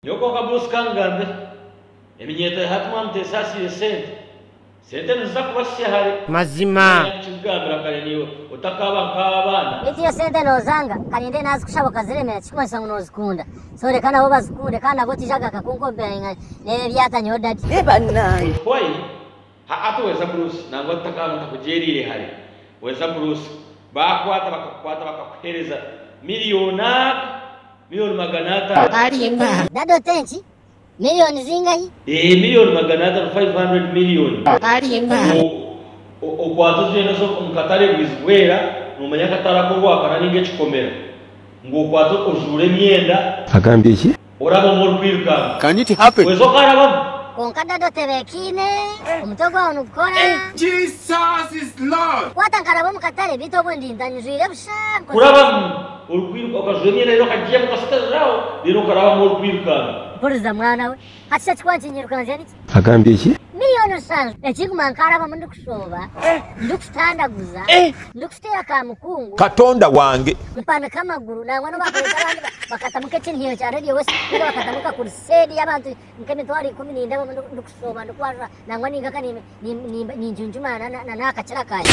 Nyowe kwonka Bruce kangambire eminyeeto ya hati mwamuta esaasiire sente. Sente niziza kubasisya hare. Mazima. Nanye kukigambira kare naiwe otakaaba nk'abaana. Beitu yo sente nozanga karinde nazikushaba okaziremera tikikumanyisa ngu nozikunda so reka nabo bazikunde kandi nabwo otijaga nka kunkomparinga nebyo ebyatanyeho daddy. Eeh banange. Otuhwaire Ha ati weza kurusi nangwa tutakaba ntakugyeriire hare weza kurusi bakwata bakakukwata bakakuhereza million aka million magana atano. Arimba. Dada ote nki? Million zingahi? Eeh million magana atano 500 million. Arimba. Ooh okwata ogyenda oza omu katare bwizi bwera nomanya akatare ako orwakara ninga ekikomera ngu okwate ojuure emyenda. Agambye ki? Oraba omu orikwirukanga. Can it happen? Kwezi okarabamu. Kwonka dada otebekaine, omutwe gwawe nigukora. If Jesus is Lord. Kwata nkaraba omu katare beitu obwe ndi nta njwire busha nkozire. Kurabamu orikwiruka okajwera emyenda reero okagiiyamu okasutariraho reero okarabamu orikwirukanga. Mpuriza mwana we. Hati shi eki ku wankyinyirukangya niki? Agambye eki? Niyo Nusaal ekiguma nkarabamu ndikushooba, ndikutandaguza, ndikuteera ka mukungu. Katonda wange! Mpanika amaguru nangwa n'obu bakureeta abandi bakatamu nk'ekinhiyo kya Radio West ninga bakatamu nka kuruseedi y'abantu nk'emitwaro ikumi nindabamu ndikushooba, ndikwarura nangwa ninga nka ninjunjumaana na n'aha kakira kangye.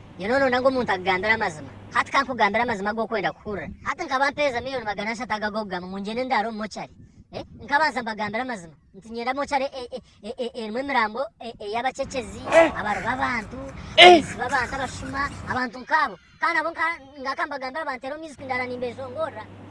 Nyowe noona ndaga omuntu akugambire amazima. Hati ka nkugambire amazima agu orikwenda kuhurira. Hati nkaba mpeereza miliyoni magana ashatu ago ag'okugamba ngu ngyende ndaare omu mochari. Eh, nkabanza mbagambira amazima nti nyenda mochari e, e, e, e, erimu emirambo e, ey'abacekyezi, eh. abari b'abantu, eh. abaisi b'abantu, abashuma, abantu nk'abo. Kandi nabo nga akambagambira banteera omu iziku ndaara nimbeshongoorera.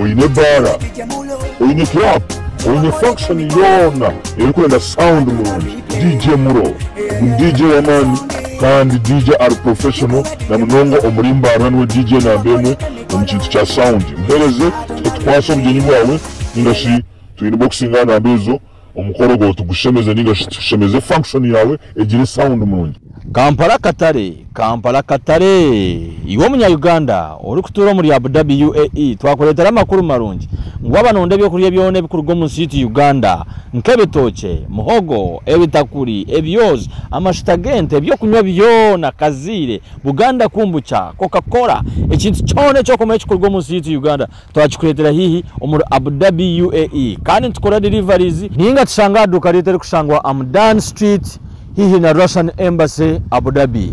Oyine ebaara, oyine club, oyine function yoona erikwenda sound nungi, DJ Mulo ni DJ w'amaani kandi DJ ari professional na munonga omuri Mbaarura niwe DJ namba emwe omu kintu kya sound. Mpereze tukwase obugyeni bwawe ninga shi twine boxing aha namba ezo. Omukoro gwawe tugushemeze ninga shi tushemeze function yaawe egire sound murungi. Kampala Akatare Kampala Akatare Iwe omunya Uganda orikutuura omuri Abu Dhabi UAE twakureetera amakuru marungi ngu waaba nooda eby'okurya byona ebikuruga omu nsi yaitu Uganda nk'ebitookye, muhogo, ebitakuri, ebyozi, amashuta g'ente, eby'okunywa byona, kaziire, Buganda Kombucha, Coca Cola, ekintu kyona eki orikureeba ekikuruga omu nsi yaitu Uganda twakikureetera haihi omuri Abu Dhabi, UAE, kandi nitukora deliveries. Ninga tushange aha duuka ryaitu erikushangwa Amdan Street haihi na Russian Embassy, Abu Dhabi.